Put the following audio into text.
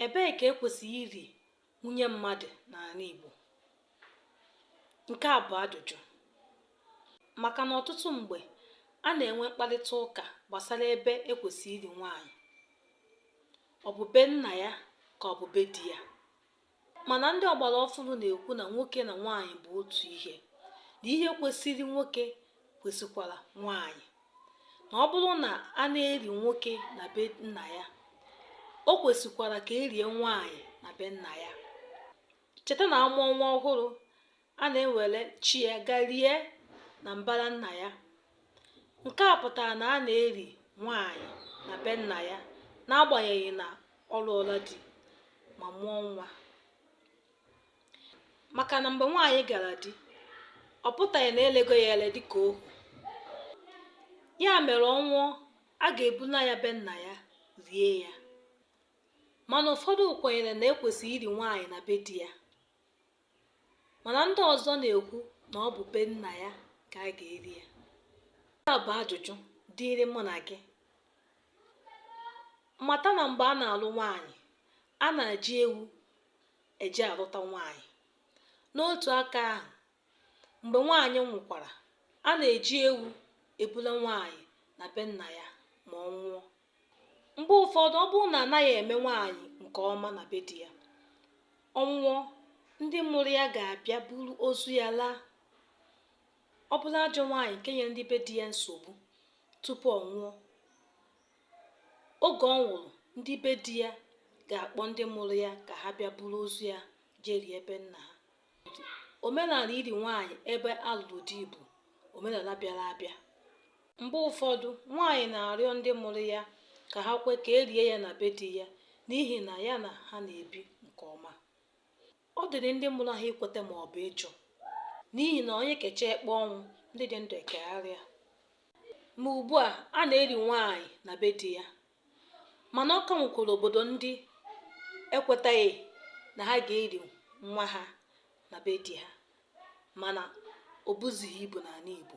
Ebee ka e kwesịrị iri nwunye mmadụ n'ala Igbo? Nke a bụ ajụjụ maka na ọtụtụ mgbe a na-enwe mkparịta ụka gbasara ebe e kwesịrị iri nwaanyị. Ọ bụ be nna ya ka ọ bụ be di ya? mana ndị ọgbara ọfụrụ na-ekwu na nwoke na nwaanyị bụ otu ihe na ihe kwesịrị nwoke kwesịkwara nwaanyị na ọ bụrụ na a na-eri nwoke na be nna ya o kwesịkwara ka e rie nwaanyị na be nna ya cheta na a mụọ nwa ọhụrụ a na-ewere chi ya gaa rie na mbara nna ya nke a pụtara na a na-eri nwaanyị na be nna ya n'agbanyeghị na ọ lụọla di ma mụọ nwa maka na mgbe nwaanyị gara di ọ pụtaghị na e lego ya ele dịka ohu ya mere ọ nwụọ a ga-ebuna ya be nna ya rie ya mana ụfọdụ kwenyere na e kwesịrị iri nwaanyị na be di ya mana ndị ọzọ na-ekwu na ọ bụ be nna ya ka a ga-eri ya nke a bụ ajụjụ dịịrị mụ na gị mata na mgbe a na-alụ nwaanyị a na-eji ewu eje alụta nwaanyị n'otu aka ahụ mgbe nwaanyị nwụkwara a na-eji ewu ebula nwaanyị na be nna ya ma ọ nwụọ mgbe ụfọdụ ọ bụrụ na a naghị eme nwaanyị nke ọma na be di ya ọ nwụọ ndị mụrụ ya ga-abịa buru ozu ya laa ọ bụrụ ajọ nwaanyị nke nyere ndị be di ya nsogbu tupu ọ nwụọ oge ọ nwụrụ ndị be di ya ga-akpọ ndị mụrụ ya ka ha bịa buru ozu ya jee rie be nna ha omenala iri nwaanyị ebe a lụrụ di bụ omenala bịara abịa mgbe ụfọdụ nwaanyị na-arịọ ndị mụrụ ya ka ha kwe ka e rie ya na be di ya n'ihi na ya na ha na-ebi nke ọma ọ dịrị ndị mụrụ ha ikweta ma ọ bụ ịjụ n'ihi na onye kechaa ekpe ọnwụ ndị dị ndụ ekegharịa ma ugbu a a na-eri nwaanyị na be di ya mana ọ ka nwekwara obodo ndị ekwetaghị na ha ga-eri nwa ha na be di ha mana o buzighị ibu n'ala Igbo